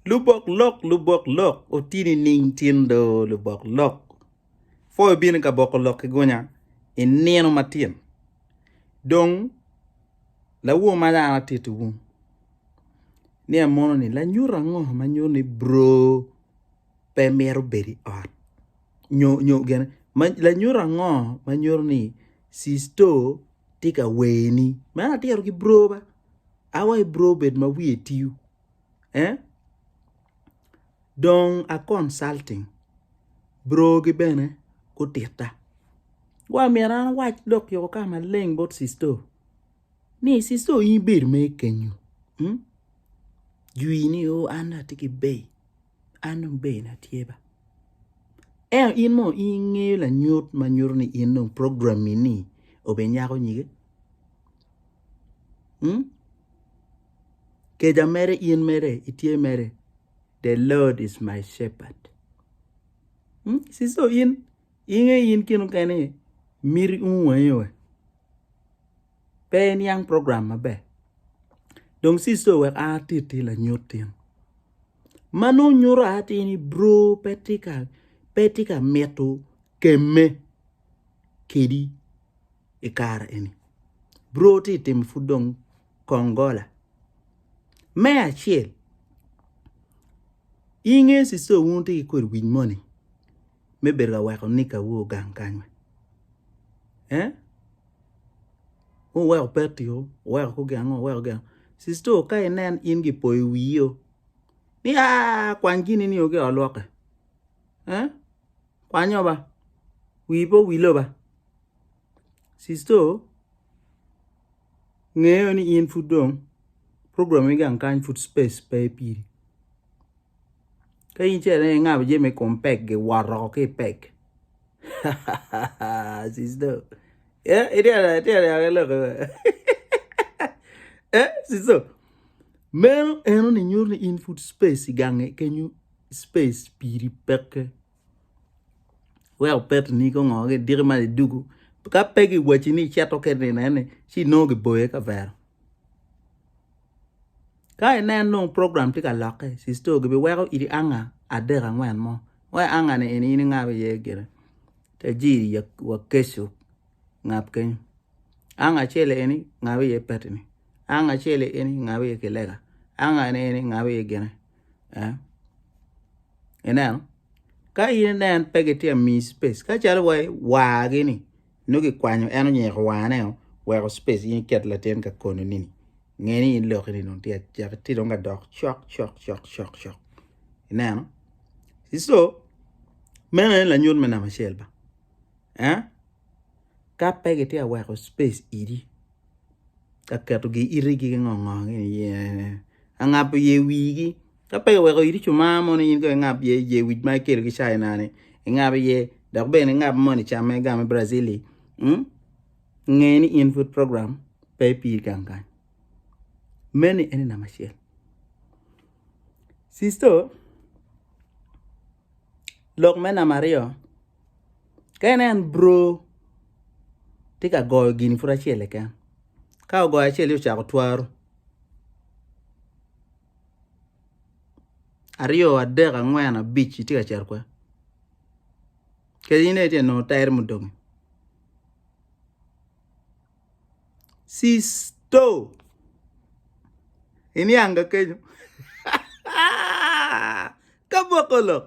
Lubok lok lubok lok oti nining tin do lubok lok pwo ibino ka boko lok ki gunya inino matin dong lawo ma dano atitiwu ni amono ni lanyut ango ma nyuto ni bro pe mito bedo i ot nyo nyo gin lanyut ango ma nyuto ni cisto tye ka werni meno atito ki bro ba awa ki bro bed ma wiye tiu eh dong a consulting bro gi bene gutitta wa myero an awac lok yoko ka maleng bot cisto. Ni i sister in ibedo me kenyo. Hmm? Jwi ni o oh, an atye ki bay. An dong bay na tye ba. Eno in mo in ngeyo la nyut ma nyuto ni in dong program ni ni obe nyako nyige. Hmm? Keja mere in mere itye mere. The Lord is my shepherd. Hmm? Sister in Inge in kene kene miti umu wangi we pe iniang program maber dong sisto wek a titi lanyut tin ma nongo nyuto a tini bro pe tika pe tika mito kemme kedi i kare eni bro ti timo pud dong kong gola me acel inge sisto wun wutye ki kodi wic moni me bedo ka weko nikawu ogang kany? Ee? Wuweko peti-o, wuweko kugengo, wuweko gengo. Sister ka inen in gipoyo wii-o ni aa kwany gini ni ogi i ot lwokke. Ee? Kwanyo ba. Wii pe owilo ba. Sister ngeyo ni in pud dong program me gang kany pud space pe piri ka in ce ne ingabo je me kom pek gi woro ki e pek sisto eh ite ala ite ala ya lok eh sisto meno eno ni nyuto ni in pud space gange kenyu space piri peke wek opetini ki ongo ki diki ma iduku ka pe giwaci ni icito ki nino eni ci nongo giboyo i kavere ka inen dong program tye ka lokke sister o gibiweko idi anga adek angwen mo wa i anga ni eni in ingabo iye gire te jiri wa keco ngab keny anga acel eni ngab iye petini anga acel eni ngab iye kilega anga ni eni ngab iye gine Ineno? Ka in ine en pe gitye ka miyi spec. Ka calo wa wargi ni nongo gikwanyo en onyeko warne o weko spec in iket latin ka kono nini. Nge ni in loki ni dong tye acek tye dong ka dok cok cok cok cok cok. Ineno? So meno en lanyut me namba acel ba. Eh? ka pe gitye ka weko space idi ka keto giri ki ngo ngo gi iye ka ngabo iye wigi ka pe kiweko idi co mar mono in kong ingab iye iye wic ma ikelo ki caina ni ingab iye dok bene ingab moni camme game Brazil li nge ni in pud program pe piri gang gang meno ene namba acel cisto lok me namba aryo Ka inen bro tye ka goyo gini pud acel keken ka ogoyo acel ci ocako twaro aryo adek angwen abic itye ka cito kwede kadi ine tye ka nongo tere mudong-ngi Sisto iniang ka kenyo ka boko lok.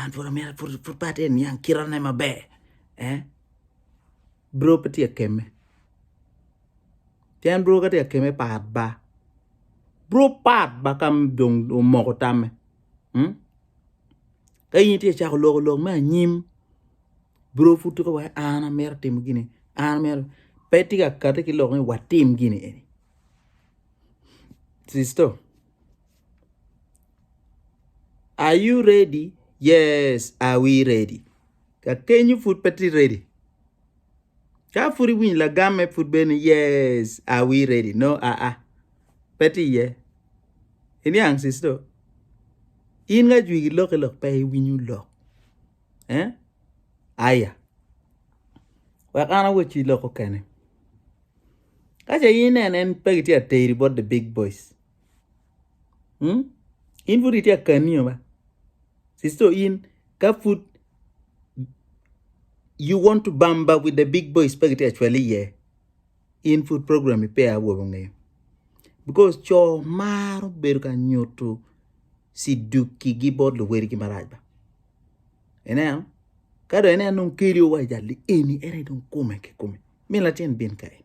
an pud amyero pud pud pat en niang kirane maber eh bro pe tye keme pien bro ka tye keme pat ba bro pat ba ka dong omoko tamme ka in itye cako loko lok me anyim bro pud tuko wai an amyero atimo gini an amyero pe tye ka kati ki lok ni watim gini eni sisto Are you ready? Yes, are we ready? Kakenyo pud pe tye ready. Ka pud iwinyo lagamme pud bene yes, are we ready? No, aa. Ah, ah. Pe tye iye. Iniang sisto. In nga jwigi lok lok pe iwinyo lok. Eh? Aya. Wek an awec i lok okene. Kace in en en pe gitye ateri bot the big boys. hmm in pud itye akaniyo ba sister in ka pud you want to bamba with the big boys pe gitye acwali iye in pud program pe awobi ongeyo because co maro bedo ka nyuto sidukigi bot luwadigi marac ba ineno ka dong ineno dong keli owaco jal ni eni ene dong kume ki kume min latin bin kae.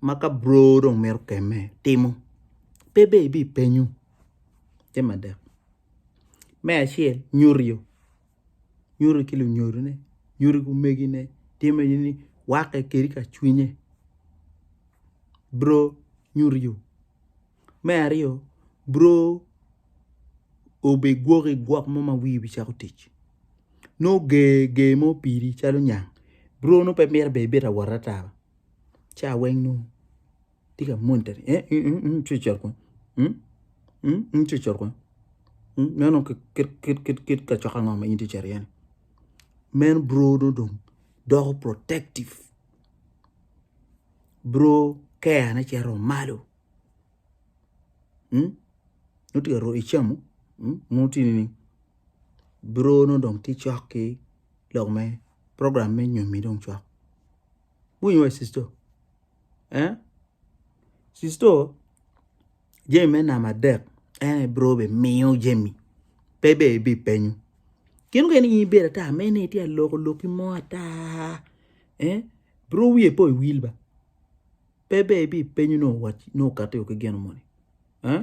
ma ka bro dong mito kemme timo pe dong ibipenyo jami adek me acel nyuto nyuto ki lunyodone nyuto ki omegine timme ni wakke kadi ka cwinye bro nyuto. Me aryo bro obigwok i gwok mo ma wiye obicako tic nongo ger ger mo piri calo nyang bro nongo pe mito bene ibito awot ata ca weng nongo tye ka monitani ing ci ocoto kong ing ci ocoto kong meno nongo kit kacok ango ma in itye ka cito iye-ni meno bro nongo dong doko protective bro care ne cito malo. nongo tye ka ruu icamo nongo tye ni buro nongo dong tye cok ki lok me program me nyomi dong cok iwinyo wa sister sister jami me namba adek en aye buro bene miyo jami pe bene ibipenyo gin mukene in ibedo ata ma ine itye ka loko loki mo ata buro wiye pe owil ba. Pe ber ibipenyo nongo wac nongo kati ki gino moni. Eh?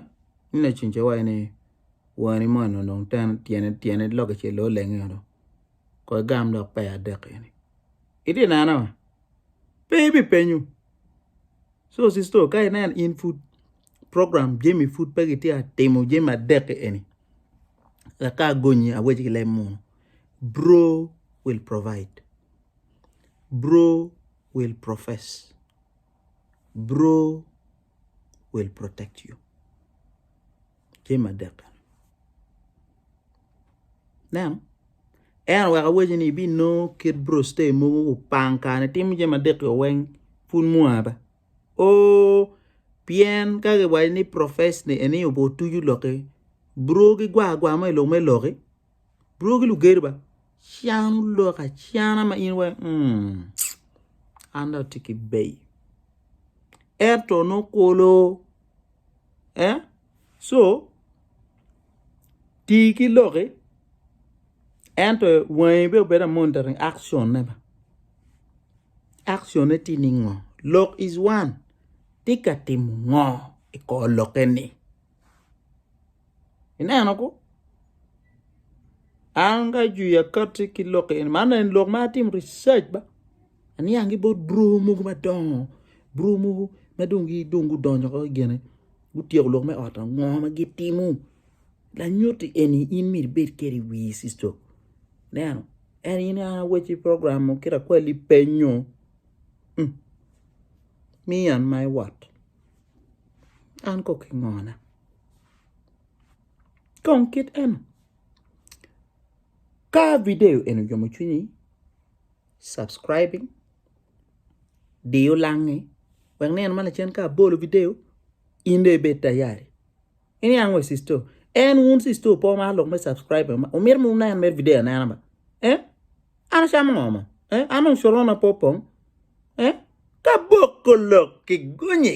Ni la cin ce wayo ni wani mo no dong ten tyene tyene loke ce lo lenge yo dong. Ko igam lok pe adek eni. Iti neno? Pe ibipenyo. So sister ka inen in food program jemi food pe gitye atimo jemi adek eni. Laka gonyi awec ki lem munu. Bro will provide. Bro will profess bro will protect you jami adek eno neno en oweko awaco ni ibinongo kit bro stay mogo opang kare timo jami adek o weng pud mwaa pe o pien ka giwaco ni profess ni eni otuco loki bro gigwar agwar mo i lok me loki. Bro ki lugedo ba can ulok acana ma in wai mm, an da tye ki bei. Ento nokolo eh? so tii ki loki ento wangi be obedo monitoring action ne ba action ne tye ningo lok is one tye ka timo ngo i kor lokke ni Ineno ko? An ka jwi akati ki lok eni, man en lok ma atim research ba. Aniang ki bot bro mogo madongo, bro mogo ma dong gidong gudonyo ko gene, gutyeko lok me ot ango ma gitimo. Lanyuti eni in myero ibed kede i wii sister. Ineno? En in an awecci program mo kit akweli penyo. Mm. Mi an my what? An kok ingona. Kong kit eno, ka video eni oyomo cwinyi, subscribing, diyo langi wek nino ma lacen ka abolo video in dong ibed tayari. Iniang we sister, en wun sister opo ma lok me subscribing ma omito ma wunen mere video anena ba? Eh? An acamo ngo mo? Eh? An dong corona pe opong? Eh? Ka boko lok ki gonyi.